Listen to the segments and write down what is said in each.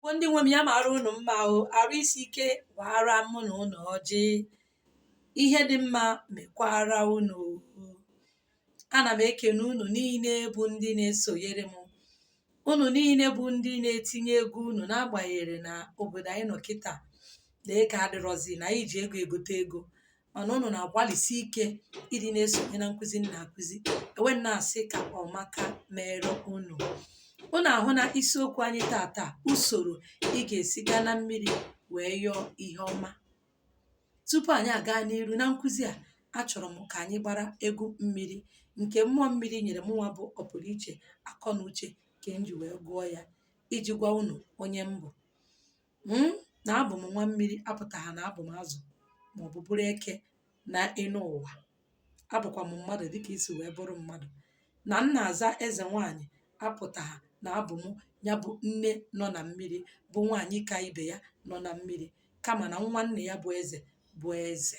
bụ ndị nwe m ya mara unu mma o arụ isi ike gbara mụ na unu ọjị ihe dị mma mekwara unu ana m ekene unu niile bụ ndị na-esonyere m unu niile bụ ndị na-etinye ego unu n'agbanyeghị na obodo anyị nọ kịta na ego adịrọzi na anyị ji ego egote ego mana unu na-agbalịsi ike ịdị na-esonye na nkụzi m na-akụzi ewee m na-asị ka ọmaka mere unu unu ahụna isiokwu anyị tata usoro ị ga-esi gaa na mmiri wee yọọ ihe ọma tupu anyị aga n'iru na nkụzi a achọrọ m ka anyị gbara egwu mmiri nke mmụọ mmiri nyere mụnwa bụ ọpụrụ iche akọ na uche ka m ji wee gụọ ya iji gwa unu onye m bụ m na abụ m nwa mmiri apụtaha na abụ m azụ maọbụ bụrụ eke na enu ụwa abụkwa m mmadụ dịka i si wee bụrụ mmadụ na m na-aza eze nwaanyị apụtaha na abụ m ya bụ nne nọ na mmiri bụ nwaanyị ka ibe ya nọ na mmiri kama na nwa nne ya bụ eze bụ eze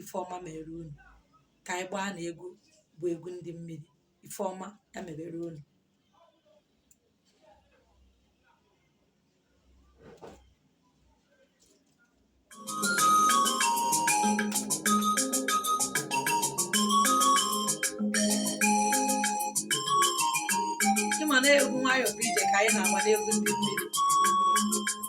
ife ọma mere unu ka anyị gbaa na egwu bụ egwu ndị mmiri ife ọma ya mebere unu ịma na egwu nwayọọ bụ ije ka anyị na-agba n'egwu ndị mmiri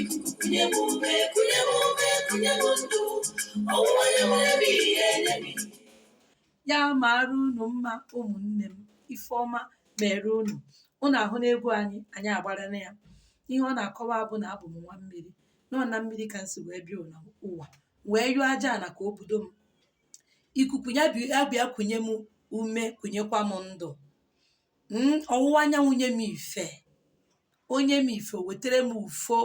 ikuku kunye m ume kunye m ume kunye m ndụ ọwụwa anyanwụ ebe ihe nye m ya mara unu mma ụmụnne m ife ọma mere unu unu ahụna egwu anyị anyị agbara na ya ihe ọ na-akọwa bụ na abụ m nwa mmiri na ọ na mmiri ka m si wee bịa enu ụwa wee yọọ aja ana ka o budo m ikuku ya bi- ya bịa kunye m ume kunyekwa m ndụ Mm, ọwụwa anyanwụ nye m ife o nye m ife o wetara m ufo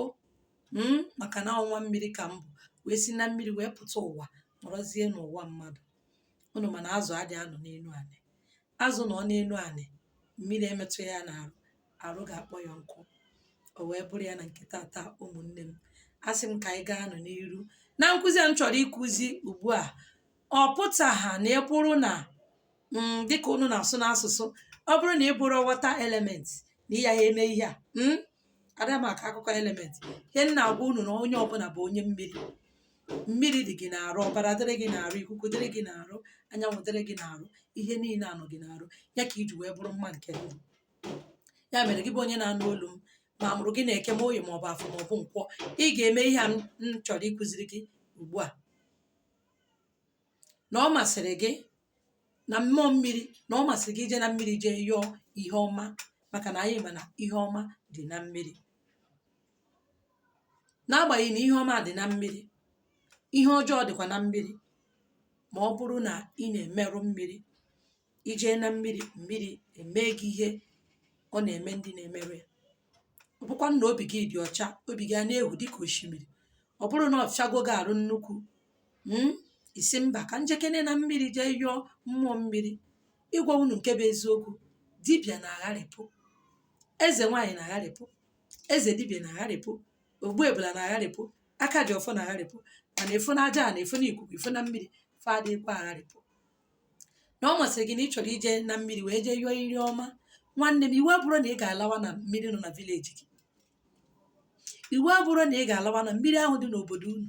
mm, maka na ọ nwa mmiri ka m bụ wee si na mmiri wee pụta ụwa nọrọzie n'ụwa mmadụ unu ma na azụ adị anọ n'elu anị azụ nọ n'elu anị mmiri emetụ ya n'arụ arụ ga-akpọ ya nkụ o wee bụrụ ya na nke tata ụmụnne m asị m ka anyị gaanụ n'iru na nkụzi a m chọrọ ịkụzi ugbu a ọ pụtaha na ị bụrụ na mm, dịka unu na-asụ n'asụsụ ọ bụrụ na ị bụrọ water element na ị yaha eme ihe a mm, ada m akọ akụkọ element ihe m na-agwa unu na onye ọbụla bụ onye mmiri mmiri dị gị n'arụ ọbara dịrị gị n'arụ ikuku dịrị gị n'arụ anyanwụ dịrị gị n'arụ ihe niile a nọ gị n'arụ ya ka i ji wee bụrụ mma nke ndụ ya mere gị bụ onye na-anụ olu m ma a mụrụ gị na eke ma oye ma ọ bụ afọ ma ọ bụ nkwọ ị ga-eme ihe a m m chọrọ ịkụziri gị ugbu a na ọ masịrị gị na mmụọ mmiri na ọ masịrị gị ije na mmiri jee yọọ ihe ọma maka na anyị ma na ihe ọma dị na mmiri n'agbanyeghị na ihe ọma dị na mmiri ihe ọjọọ dịkwa na mmiri ma ọ bụrụ na ị na-emerụ mmiri ị jee na mmiri mmiri emee gị ihe ọ na-eme ndị na-emerụ ya ọ bụkwa na obi gị dị ọcha obi gị a na-ehu dịka osimiri ọ bụrụ na ọ fịago gị arụ nnukwu ị sị mba ka m jekene na mmiri jee yọọ mmụọ mmiri ịgwa unu nke bụ eziokwu dibịa na-agharịpụ eze nwaanyị na-agharịpụ eze dibịa na-agharịpụ ogbu ebula na-agharịpụ aka ji ọfọ na-agharịpụ mana ị fụ na aja ana ị fụ na ikuku ị fụ na mmiri fa adịkwa agharịpụ na ọ masịrị gị na ị chọrọ ije na mmiri wee jee yọọ iru ọma nwanne m iwu abụrọ na ị ga-alawa na mmiri nọ na village gị iwu abụrọ na ị ga-alawa na mmiri ahụ dị n'obodo unu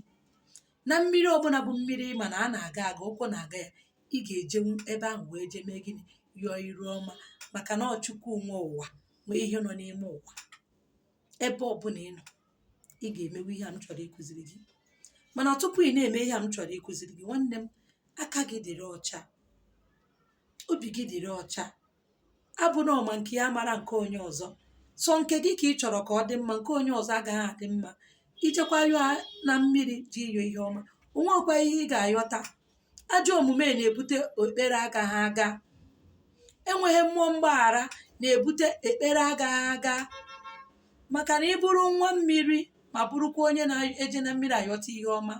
na mmiri ọbụla bụ mmiri ma na a na-aga aga ụkwụ na-aga ya ị ga-ejenwu ebe ahụ wee jee mee gịnị yọọ iru ọma maka na ọ Chukwu nwe ụwa nwee ihe nọ n'ime ụwa ebe ọbụla ị nọ ị ga-emewe ihe a m chọrọ ịkụziri gị mana tupu ị na-eme ihe a m chọrọ ịkụziri gị nwanne m aka gị dịrị ọcha obi gị dịrị ọcha abụna ọ ma nke ya amarọ nke onye ọzọ sọ nke gị ka ị chọrọ ka ọ dị mma nke onye ọzọ agaghị adị mma ị jekwa yọọ na mmiri jee yọọ ihe ọma o nwekwa ihe ị ga-ayọta Ajọ omume na-ebute ekpere agaghị aga. Enweghị mmụọ mgbaghara na-ebute ekpere agaghị aga. Maka na ị bụrụ nwa mmiri ma bụrụkwa onye na-eje na mmiri ayọta ihe ọma,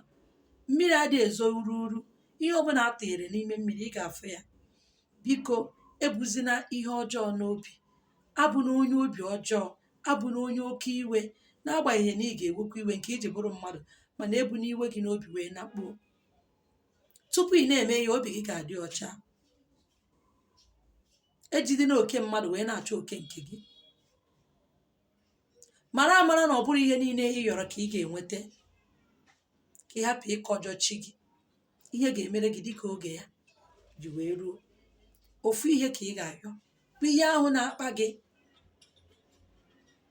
mmiri adịghị ezo uru uru. Ihe ọbụla a tụnyere n'ime mmiri, ị ga-afụ ya. Biko, ebuzina ihe ọjọọ n'obi. Abụna onye obi ọjọọ. Abụna onye oke iwe. N'agbanyeghị na ị ga-ewekwa iwe nke i ji bụrụ mmadụ, mana ebuna iwe gị n'obi wee nakpuo. tupu ị na-eme ihe a obi gị ga-adị ọcha ejidena oke mmadụ wee na-achọ oke nke gị mara amara na ọ bụrọ ihe niile ị yọrọ ka ị ga-enweta ka ị hapụ ịkọjọ chi gị ihe ga-emere gị dịka oge ya ji wee ruo ofu ihe ka ị ga-ayọ bụ ihe ahụ na-akpa gị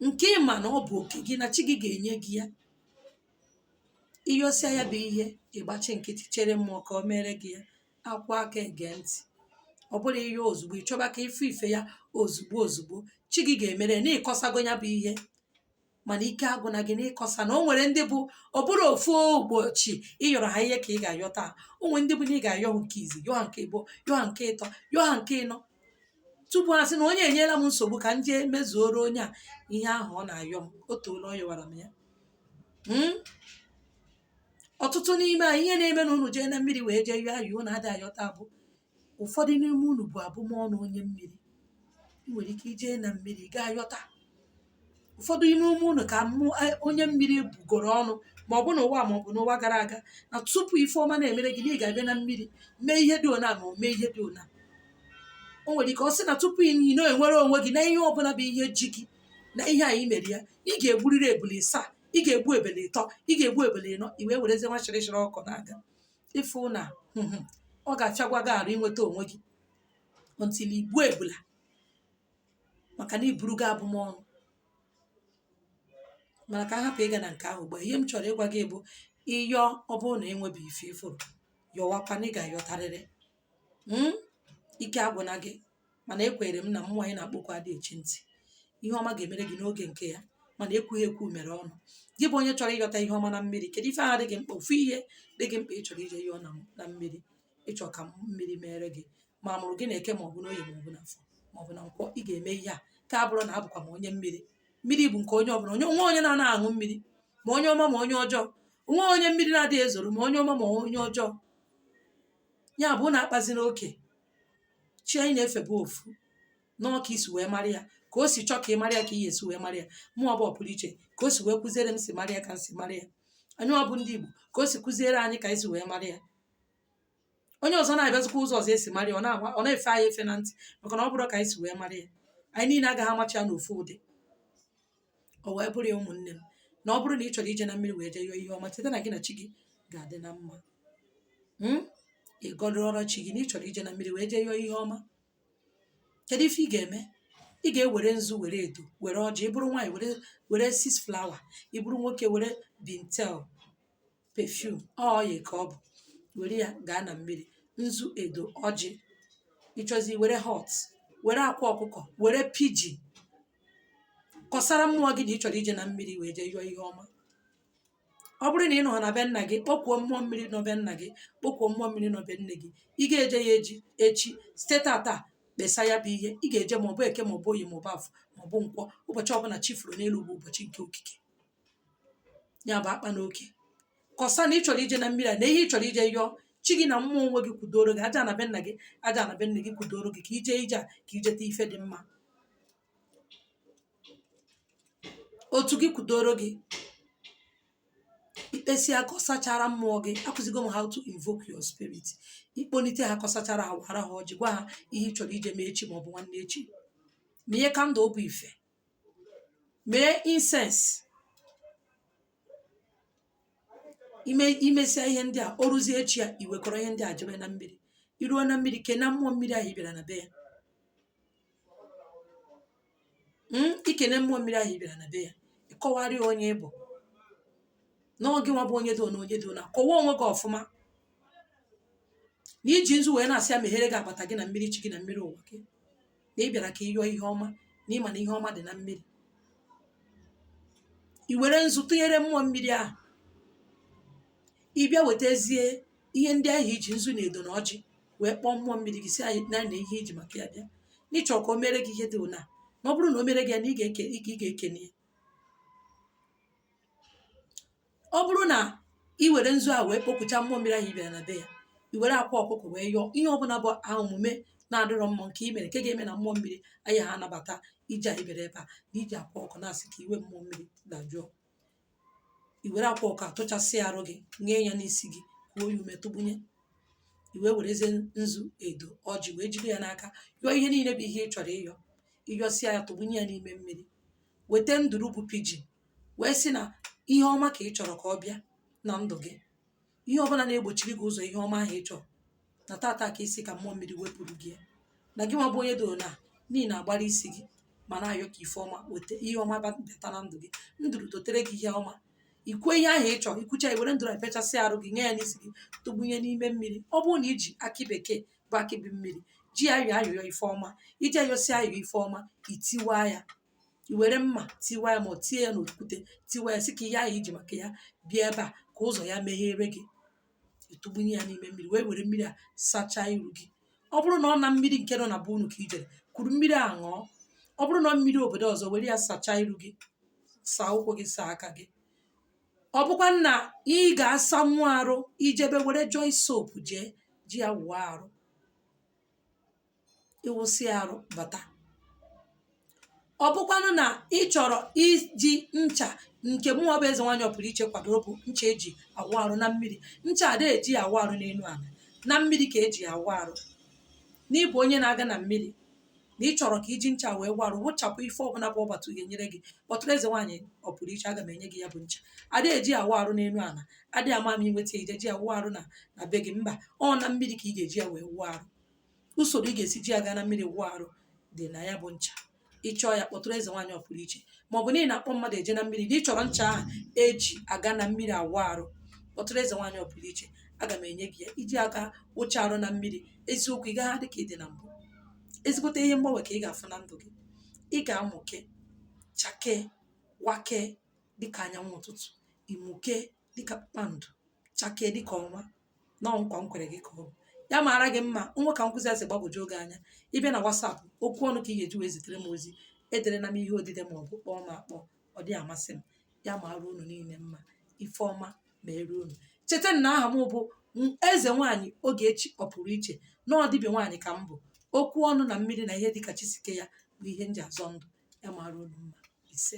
nke ị ma na ọ bụ oke gị na chi gị ga-enye gị ya ị yọsịa ya bụ ihe ị gbachi nkịtị chere mmụọ ka o meere gị ya a kụọ aka e gee ntị ọ bụrọ ihe ozugbo ị chọba ka ife ife ya ozugbo ozugbo chi gị ga-emere na ị kọsago ya bụ ihe mana ike agwụna gị na ịkọsa na o nwere ndị bụ ọ bụrọ ofu ụbọchị ị yọrọ ha ihe ka ị ga-ayọta o nwere ndị bụ na ị ga-ayọ ha nke izi yọọ ha nke ịbụọ yọọ ha nke ịtọ yọọ ha nke ịnọ tupu ha sị na onye a enyela m nsogbu ka m jee mezuoro onye a ihe ahụ ọ na-ayọ m o toola ọ yọwara m ya hmm? ọtụtụ n'ime anyị ihe na-eme na unu jee na mmiri wee jee yọọ ayọ unu adịghị ayọta bụ ụfọdụ n'ime unu bu abụmọnụ onye mmiri ị nwere ike ijee na mmiri gaa yọta ụfọdụ n'ime unu ka onye mmiri bụgoro ọnụ ma ọ bụ n'ụwa a ma ọ bụ n'ụwa gara aga na tupu ife ọma na-emere gị na ị ga-abịa na mmiri mee ihe dị ona ma o mee ihe dị ona o nwere ike ọ sị na tupu ị na-enwere onwe gị na ihe ọbụla bụ ihe ji gị na ihe anyị mere ya ị ga-egburịrị ebule ịsaa ị ga-egbu ebule ịtọ ị ga-egbu ebule ịnọ i wee werezie nwa shịrịshịrị ọkụ na-aga ị fụ na hmm, hmm, ọ ga-afịagwa gị arụ inweta onwe gị until i gbuo ebula maka na iburu gị abụmọnụ mana ka a hapụ ịga na nke ahụ ugbu a ihe m chọrọ ịgwa gị bụ ị yọọ ọ bụrụ na i nwebeghị ife ị fụrụ yọwakwa na ị ga-ayọtarịrị mm ike agwụna gị mana ekwere m na mmụọ anyị na-akpọku adịghị echi ntị ihe ọma ga-emere gị n'oge nke ya mana ekwughị ekwu mere ọnụ gị bụ onye chọrọ ịyọta ihe ọma na mmiri kedu ife ahụ dị gị mkpa ofu ihe dị gị mkpa ị chọrọ ije yọọ na na mmiri ị chọ ka mmiri mere gị ma a mụrụ gị na eke maọbụ n'oye maọbụ n'afọ maọbụ na nkwọ ị ga-eme ihe a ka a bụrụ na abụkwa m onye mmiri mmiri bụ nke onye ọbụla o nwe onye na-ana aṅụ mmiri ma onye ọma ma onye ọjọọ o nwe onye mmiri na-adịghị ezoro ma onye ọma ma onye ọjọọ ya bụ na akpazina oke chi anyị na-efe bụ ofu na ọ ka i si wee mara ya ka o si chọọ ka ị mara ya ka ị ya-esi wee mara ya mụwa bụ Ọpụrụiche ka o si wee kụziere m si mara ya ka m si mara ya anyịwa bụ ndị Igbo ka o si kụziere anyị ka anyị si wee mara ya onye ọzọ na-abịazikwa ụzọ ọzọ e si mara ya ọ na-agwa ọ na-efe anyị efe na ntị maka na ọ bụrọ ka anyị si wee mara ya anyị niile agaghị amacha ya n'ofu ụdị o wee bụrụ ya ụmụnne m na ọ bụrụ na ị chọrọ ije na mmiri wee jee yọọ ihe ọma cheta na gị na chi gị ga-adị na mma Mm? ị gọdụrụ chi gị na ị chọrọ ije na mmiri wee jee yọọ ihe ọma kedu ife ị ga-eme ị ga-ewere nzu were edo were ọjị ị bụrụ nwaanyị were were six flower ị bụrụ nwoke were bintel perfume oil ka ọ bụ were ya gaa na mmiri nzu edo ọjị ị chọzi were hot were akwa ọkụkọ were piji kọsara mmụọ gị na ị chọrọ ije na mmiri wee jee yọọ ihe ọma ọ bụrụ na ị nọ na be nna gị kpọkuo mmụọ mmiri nọ be nna gị kpọkuo mmụọ mmiri nọ be nne gị ị ga-eje ya eje echi site tata kpesa ya bụ ihe ị ga-eje maọbụ eke maọbụ oye maọbụ afọ maọbụ nkwọ ụbọchị ọbụla chi foro n'elu bụ ụbọchị nke okike ya bụ akpana oke kọsa na ị chọrọ ije na mmiri a na ihe ị chọrọ ije yọọ chi gị na mmụọ nwe gị kwudoro gị ajana be nna gị ajana be nne gị kwudoro gị ka i jee ije a ka i jeta ife dị mma otu gị kwudoro gị i kpesịa kọsachara mmụọ gị akụzigo m how to invoke your spirit ị kpọnite ha kọsachara ha wara ha ọjị gwa ha ihe ị chọrọ ije mee echi maọbụ nwanne echi munye candle ọ bụ ife mee incense ime imesịa ihe ndị a o ruzie echi ya iwekọrọ ihe ndị a jebe na mmiri iruo na mmiri kene mmụọ mmiri ahụ ị bịara na be ya Mm, ikene mmụọ mmiri ahụ ị bịara na be ya ịkọwarị ya onye ị bụ na ọ gị nwa bụ onye dị ụna onye dị ụna kọwaa onwe gị ọfụma na iji nzu wee na-asị ya meghere gị agbata gị na mmiri chi gị na mmiri ụwa gị na ị bịara ka ị yọọ ihe ọma na ịma na ihe ọma dị na mmiri i were nzu tụnyere mmụọ mmiri ahụ ị bịa wetazie ihe ndị ahụ iji nzu na edo na ọjị wee kpọọ mmụọ mmiri gị sị ya na nee ihe iji maka ya bịa na ịchọ ka o mere gị ihe dị ụna na ọ bụrụ na o mere gị ya na ị ga-eke ị ga-ekene ya ọ bụrụ na i were nzu a wee kpọkuchaa mmụọ mmiri ahụ ị bịara na be ya i were akwa ọkụkọ wee yọọ ihe ọbụla bụ ajọ omume na-adịrọ mma nke i mere nke ga-eme na mmụọ mmiri agaghị anabata ije a ị bịara ebe a na iji akwa ọkụkọ na-asị ka iwe mmụọ mmiri dajụọ i were akwa ọkụkọ a tụchasịa arụ gị ṅee ya n'isi gị kuo ya ume tụgbunye i wee werezie nzu edo ọjị wee jide ya n'aka yọọ ihe niile bụ ihe ị chọrọ ịyọ ịyọsịa ya tụgbunye ya n'ime mmiri weta nduru bụ pigeon wee sị na ihe ọma ka ị chọrọ ka ọ bịa na ndụ gị ihe ọbụla na-egbochiri gị ụzọ ihe ọma ahụ ị chọrọ na tata ka ị sị ka mmụọ mmiri wepụrụ gị ya na gị nwa bụ onye dị ụna na ị na-agbara isi gị ma na-ayọ ka ife ọma weta ihe ọma ba- bata na ndụ gị nduru dutere gị ihe ọma ikwuo ihe ahụ ị chọrọ ikwucha iwere nduru a pịachasịa arụ gị nye ya n'isi gị tụgbunye n'ime mmiri ọ bụrụ na iji akị bekee bụ akị bu mmiri ji ya yọọ ayịyọ ife ọma iji ya yọsịa ayịyọ ife ọma itiwa ya i were mma tiwa ya ma ọ tie ya n'okwute tiwa ya sị ka ihe ahụ iji maka ya bịa ebe a ka ụzọ ya meghere gị ịtụgbunye ya n'ime mmiri wee were mmiri a sachaa iru gị ọ bụrụ na ọ na mmiri nke nọ na be unu ka i jere kuru mmiri a ṅụọ ọ bụrụ na ọ mmiri obodo ọzọ were ya sachaa iru gị saa ụkwụ gị saa aka gị ọ bụkwanụ na ị ga-asanwu arụ ijebe were joy soap jee ji ya wụọ arụ ịwụsị arụ bata ọ bụkwanụ na ị chọrọ iji ncha nke mụnwa bụ eze nwaanyị ọpụrụ iche kwadoro bụ ncha eji awụ arụ na mmiri ncha ada eji awụ arụ n'elu ala na mmiri ka eji awụ arụ na ị bụ onye na-aga na mmiri na ị chọrọ ka iji ncha wee wụọ arụ wụchapụ ife ọbụla bụ ọgbatụ ga-enyere gị kpọtụrụ eze nwaanyị ọpụrụ iche aga m enye gị ya bụ ncha adịghị eji awụ arụ n'elu ala adịghị ama m inweta ije ji awụ arụ na na be gị mba ọ na mmiri ka ị ga-eji ya wee wụọ arụ usoro ị ga-esi ji ya gaa na mmiri wụọ arụ dị na ya bụ ncha ị chọọ ya kpọtụrụ eze nwaanyị ọ pụrụ iche ma ọ bụ na ị na-akpọ mmadụ eje na mmiri na ị chọrọ ncha ahụ eji aga na mmiri awụ arụ kpọtụrụ eze nwaanyị ọ pụrụ iche aga m enye gị ya iji aga wụcha arụ na mmiri eziokwu ị gaghị adị ka ị dị na mbụ ezigbote ihe mgbanwe ka ị ga-afụ na ndụ gị ị ga-amụke chakee wakee dịka anyanwụ ụtụtụ ị mụkee dịka kpakpando chakee dịka ọnwa na ọ nkwa m kwere gị ka ọ bụ ya maara gị mma nwee ka nkụzi a si gbagwoju gị anya ị bịa na WhatsApp okwu ọnụ ka ị ga-eji wee zitere m ozi ederena m ihe odide ma ọ bụ kpọọ m akpọ ọ dịghị amasị m ya maara unu niile mma ife ọma meere unu cheta na aha m bụ eze nwaanyị Ogechi ọ pụrụ iche na ọ dịbịa nwaanyị ka m bụ okwu ọnụ na mmiri na ihe dịka chi si kee ya bụ ihe m ji azọ ndụ ya maara unu mma ise